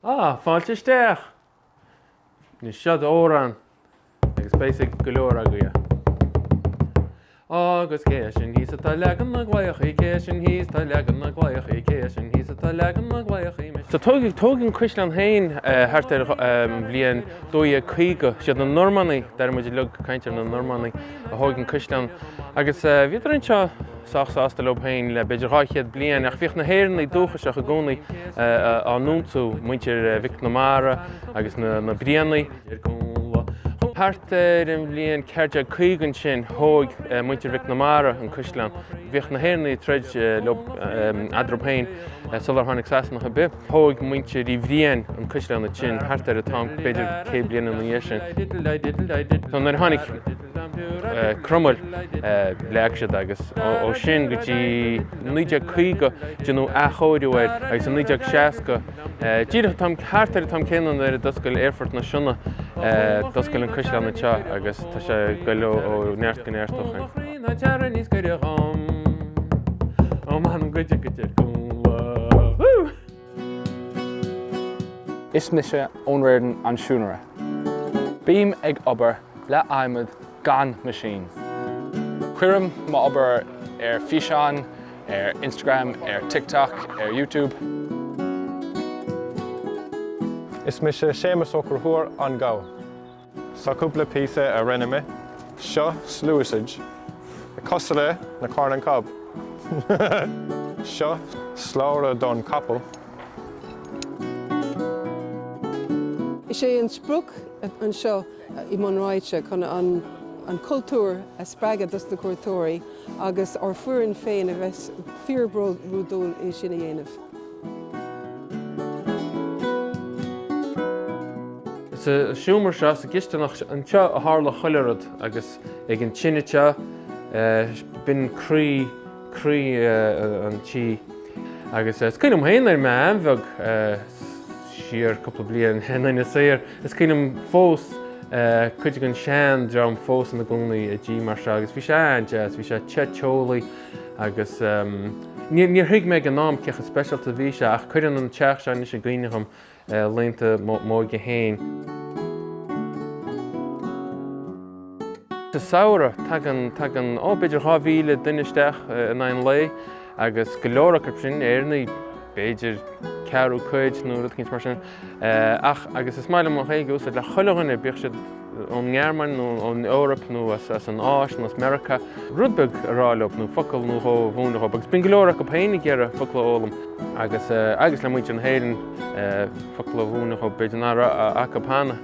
Á, fáilte isteach! Anois, seod amhrán, agus beidh 's ag go leor agaibh é. Agus cé sin thíos atá leagan na gclaíochaí, cé sin thíos atá leagan na gclaíochaí, cé sin thíos atá leagan na gclaíochaí. Tógadh an cuisleán féin thart ar an bhliain 1250. Siad na Normánaigh, deirimid uilig, caintear na Normánaigh, a thóg an cuisleán. Agus bhíodar anseo. sách sásta leob féin le b'fhéidir dhá chéad bliain ach bhíodh na hÉireannaigh dúchasach i gcónaí á n-ionsú, muintir Mhic na Mara agus na Brianaigh. Thart ar an bhliain 1450 ansin thóig muintir Mhic na Mara an caisleán. Bhíodh na hÉireannaigh ag troid leob eadraob féin sular tháinig Sasanach ar bith. Thóig muintir Uí Bhriain an caisleán ansin thart ar an t-am b'fhéidir céad bliain ina dhiaidh sin. Nuair a tháinig. Cromail. Leag siad agus ó sin go dtí 1950 déanadh athchóiriú air agus i 1960, díreach an t-am, thart ar an t-am céanna nuair a d'oscail Aerfort na Sionna, d'oscail an Caisleán anseo agus tá sé ag goil ó neart go neart ó shoin. Is mise Eoin Reardon an Siúinéir. Bím ag obair le adhmad gan meaisín. Cuirim m'obair ar físeán, ar Instagram, ar TikTok, ar YouTube. Is mise Séamus Ó Conchúir, An Gabha. Seo cúpla píosa a rinne mé, seo sluasaid cosúil le na Corn on the Cob. Seo slabhra don capall. Is é an sprioc anseo i mBun Raite chun an cultúr a spreagadh dos na cuairteoirí agus ár bhfoireann féin a bheith fíor-bhródúil é sin a dhéanamh. Sa seomra seo, sa gcisteanach anseo a tharla chuile rud agus ag an tine seo, b'in croí an tí. Agus is cuimhin liom féin nuair a bhí mé an-bheag siar cúpla bliain i nInis Oírr, is cuimhin liom fós cuid den seandream fós ina gcónaí i dtí mar seo agus bhí sé an-deas, bhí sé te teolaí. Agus níor thuig mé ag an am cé chomh speisialta a bhí sé ach cuireann an teach seo anois i gcuimhne dhom laethanta m'óige féin. Sa samhradh, tagann, tagann, ó, b'fhéidir dhá mhíle duine isteach in aghaidh an lae agus go leor acu sin, Éireannaigh, b'fhéidir ceathrú cuid nó rud éicint mar sin. Ach, agus is maith liom an Ghaeilge a úsáid le chuile dhuine, bíodh siad ón nGearmáin nó ón Eoraip nó as an Áis nó as Meiriceá, rud beag a rá leob nó focal nó dhó a mhúineadh dhóib. Agus bíonn go leor acub féin ag iarraidh focla a fhoghlaim agus, agus le muintir na hÉireann, focla a mhúineadh dhóib, b'fhéidir nach raibh acub cheana.